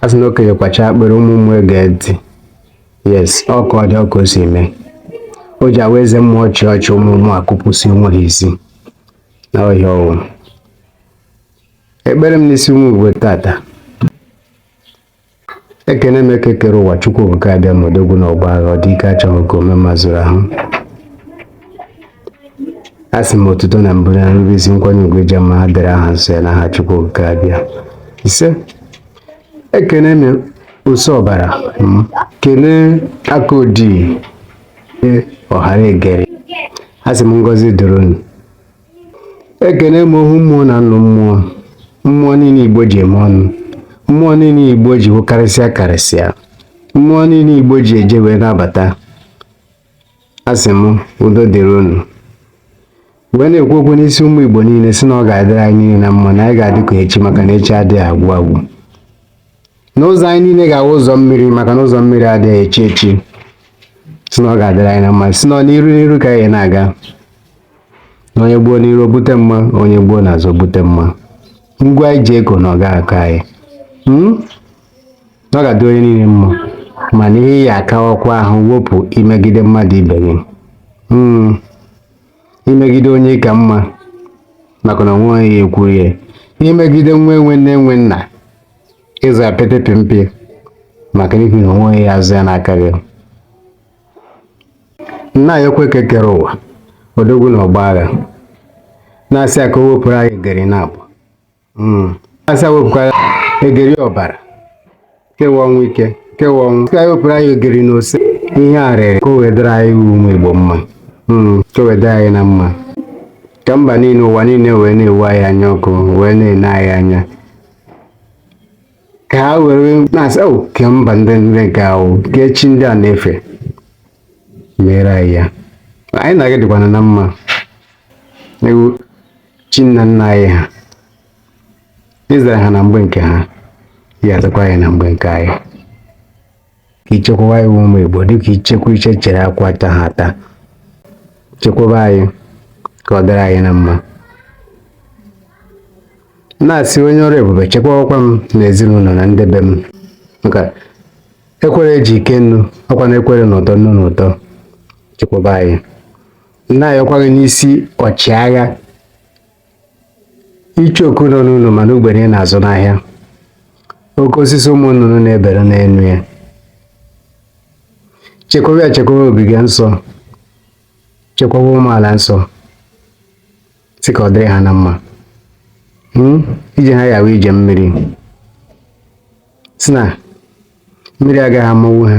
a sị na okenye kwacha akpịrị ụmụ mmụọ ege ntị yes ọ ka ọ dị ọ ka o si mee o ji awa eze mmụọ ọchị ọchị ụmụ mmụọ akụpụsị onwe ha isi n'ọhịa ọ wụ ekpere m n'isi ụmụ igbo tata ekene m eke kere ụwa chukwu okike abịama odogwu n'ọgbọ agha ọ dị ike achọghị ka ome mma zuru ahụ asị m otuto na mbụ na nrube isi nkwanye ugwu ịja mma ha dịrị aha nsọ ya n'aha chukwu okike abịa ise ekene m ose ọbara kene aka odii ọhara egeri asị m ngọzi dịrị unu ekene m ohu mmụọ na nnụ mmụọ mmụọ niile igbo ji eme ọnụ mmụọ niile igbo ji wụ karịsịa karịsịa mmụọ niile igbo ji eje wee na-abata asị m udo dịrị unu wee na-ekwu okwu n'isi ụmụ Igbo niile sị na ọ ga-adịrị anyị niile na mma na anyị ga-adị ka echi maka na echi adịghị agwụ agwụ na ụzọ anyị niile ga-awụ ụzọ mmiri maka na ụzọ mmiri adịghị echi echi sị na ọ ga-adịrị anyị na mma sị na n'iru n'iru ka anyị na-aga na onye gbuo n'iru bute mma onye gbuo n'azụ bute mma ngwa anyị ji ego na ọ ga-akọ anyị hmm? na ọ ga-adị onye niile mma mana ihe ya akawakwa ahụ wepụ imegide mmadụ ibe gị hmm. imegide onye ị ka mma maka na o nweghị onye ya-ekwuru ya imegide nwa enwe nne enwe nna ịzọ ya pete pịmpị maka n'ihi na o nweghị onye ya-azọ ya n'aka gị na-ayọkwa eke kere ụwa odogwu n'ọgbọ agha na-asị ya ka o wepụrụ anyị egeri naabọ hmm. asị ya wepụkwara egeri ọbara ke wụ ọnwụ ike ke wụ ọnwụ ka anyị wepụrụ anyị egeri na ose ihe arịrị ka o wee dịrị anyị ụmụ igbo mma hmm, ka o wee dịrị anyị na mma ka mba niile ụwa niile wee na-ewu anyị anya ọkụ wee na-ene anyị anya ka ha were na-asị o oh, ke mba ndị ndị nke ahụ ke chi ndị a na-efe mere anyị ya anyị na-aga dịkwana na mma chi nna nna anyị ha ị zara ha na mgbe nke ha ya azakwa anyị na mgbe nke anyị ka i chekwaba anyị ụmụ Igbo dịka ichekwa iche chere akwa ata ha ata chekwaba anyị ka ọ dịrị anyị na mma na-asị onye ọrụ ebube chekwawakwa m na ezinụlọ na ndị be m maka ekwere ji ike nnu ọkwa na ekwere na ụtọ nnu na ụtọ chekwaba anyị na-ayọkwa gị n'isi ọchịagha icheoku nọ n'ụlọ mana ugbene na-azụ n'ahịa oke osisi ụmụ nnụnụ na-ebere n'elu ya chekwaba ya chekwaba ogige nsọ chekwaba ụmụala nsọ sị ka ọ dịrị ha na mma hmm? ije ha ya-awụ ije mmiri sị na mmiri agaghị amanwu ha